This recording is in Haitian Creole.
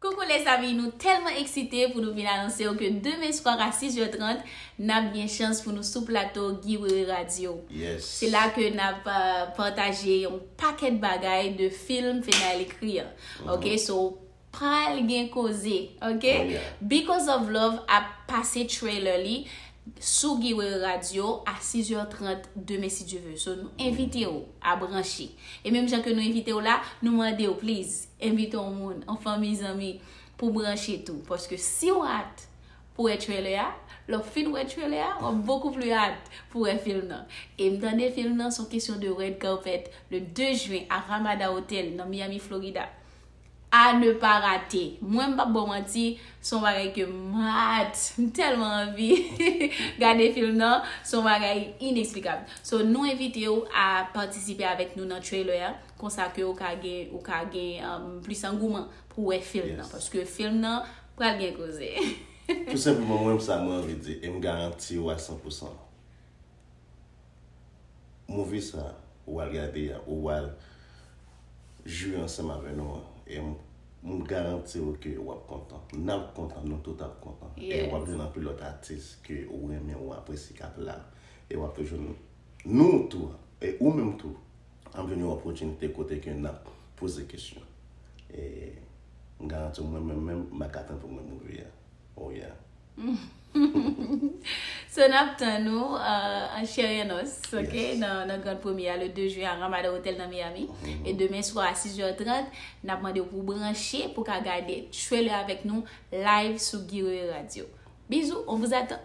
Coucou les amis nou telman eksite pou nou vin anonse w ke demen swar a 6 jè 30 nap gen chans pou nou sou plato Guy Wewe Radio se la ke nap pataje yon pakèt bagay de film Fednaelle ekri an ok so pral gen koze ok Because of love ap pase trailer li sou Guy Wewe Radio a 6 jè 30 demen si Dieu veut so nou envite w a branche e menm jan ke nou envite w la nou mande w please. Envite yon moun, yon fanmi zanmi pou branche tou paske si w at pou wè trailer a, lè w fin wè trailer a wap bokou pli at pou wè film nan. E m tande film nan son kesyon de red carpet le 2 juin a Ramada Hotel nan Miami Florida. A ne pa rate! Mwen m pap ba w manti son bagay ke m at! M telman anvi gade film nan son bagay inexplikab. So nou envite w a patisipe avèk nou nan trailer a. konsa ke ou ka gen, ou ka gen plis angouman pou wè film nan. Paske film nan pral gen koze. Tou senpleman mwen sa mwen anvi di, e m garanti ou a san pou san. Movie sa ou al gade a, ou al jwi ansanm avè nou an, e m garanti ou ke ou ap kontan. N ap kontan, nou tout ap kontan. E ou ap jwenn anpil lòt atis ke ou renmen, ou apresye k ap la. E w ap rejwenn nou tou, e ou menm tou. An plen yon opotinite kote ke n ap poze kesyon. E m garanti w mwen menm menm m pa ka tann pou mwen mouri a. Oh yeah. So n ap tann ou an chè e an os ok nan grand premye a le 2 juin a Ramada Hotel nan Miami. E demen swa a 6 heures 30 n ap mande w pou w branche pou w ka gade trailer avèk nou live sou Guy Wewe Radio. Bizou, on vous attend!